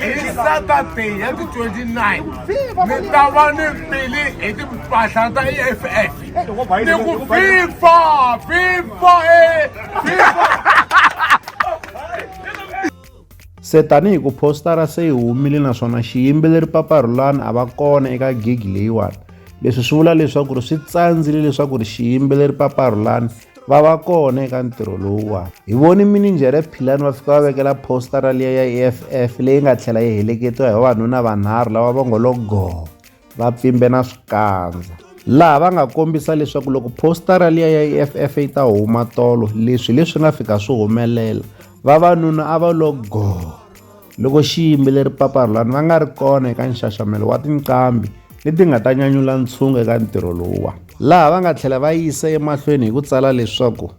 hi saturday ya ti 29 ni ta va ni fili hi timpahla ta eff ni ku fifa fifa e fifa se tanihi ku postara se yi humile naswona xiyimbeleri paparhulani a va kona eka gig leyiwani leswi swi vula leswaku ri swi tsandzile leswaku ri xiyimbeleri paparhulani va va kona eka ntirho lowuwani hi voni mininjhere philani va fika va vekela postara liya ya e f f leyi nga tlhela yi heleketiwa hi vavanuna vanharhu lava va ngo lo goho va pfimbe na swikandza laha va nga kombisa leswaku loko postara liya ya e f f yi ta huma tolo leswi leswi nga fika swi humelela vavanuna a va lo goho Loko xiyimbeleri Papa Rhulani va nga ri kona eka nxaxamelo wa tinqambi leti nga ta nyanyula ntshungu eka ntirho lowuwa laha va nga tlhela va yisa emahlweni hi ku tsala leswaku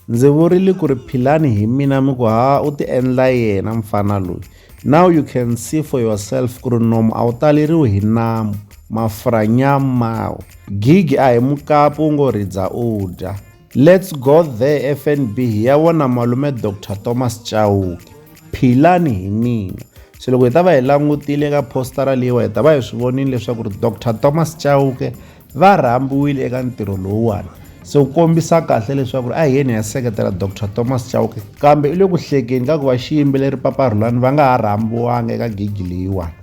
ndzi vurile ku ri philani hi mina mi ku ha u ti endla yena mfana loyi now you can see for yourself ku ri nomu a wu taleriwi hi namu mafurha nyamawo gigi a hi mukapu wu ngo ridza u dya Let's go there FNB hi ya vona malume Dr Thomas Chauke philani hi mina se loko hi ta va hi langutile ka postara leyiwa hi ta va hi swi vonile leswaku ri Dr Thomas Chauke va rhambiwile eka ntirho lowuwani se wu kombisa kahle leswaku ri a hi yeni ya seketela Dr Thomas Chauke kambe i le ku hlekeni ka ku va xiyimbeleri paparhulani va nga ha rhambiwanga eka gigi leyiwani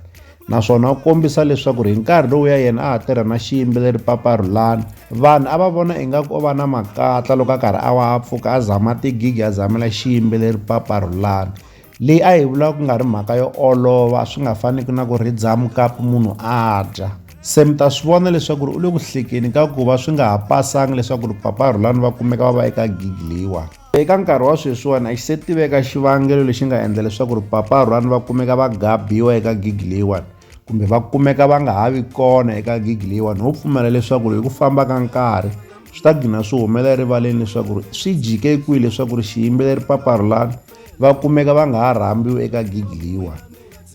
naswona u kombisa leswaku ri hi nkarhi lowuya yena a ha tirha na xiyimbeleri papa rhulani vanhu a va vona ingaku o va na makatla loko a karhi a wa a pfuka a zama tigigi a zamela xiyimbeleri papa rhulani leyi a yi vula ku nga ri mhaka yo olova swi nga faniki na ku ri dzamukapu munhu a dya se mi ta swi vona leswaku ri u le ku hlekeni ka ku va swi nga ha pasanga leswaku ri papa rhulani va kumeka va va eka gigi leyiwani Eka nkarhi wa sweswiwani a xi se tiveka xivangelo lexi nga endla leswaku ri Papa Rhwani va kumeka va gabiwa eka gigi leyiwani kumbe va kumeka va nga ha vi kona eka gigi leyiwani ho pfumela leswaku ri hi ku famba ka nkarhi swi ta gina swi humelela erivaleni leswaku ri swi jike kwihi leswaku ri xiyimbeleri Papa Rhulani va kumeka va nga ha rhambiwi eka gigi leyiwani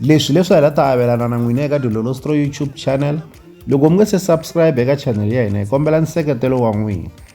leswi leswi hi la ta avelana na n'wina eka dilolostro youtube channel loko mi nge se subscribe eka channel ya hina hi kombela nseketelo wa n'wina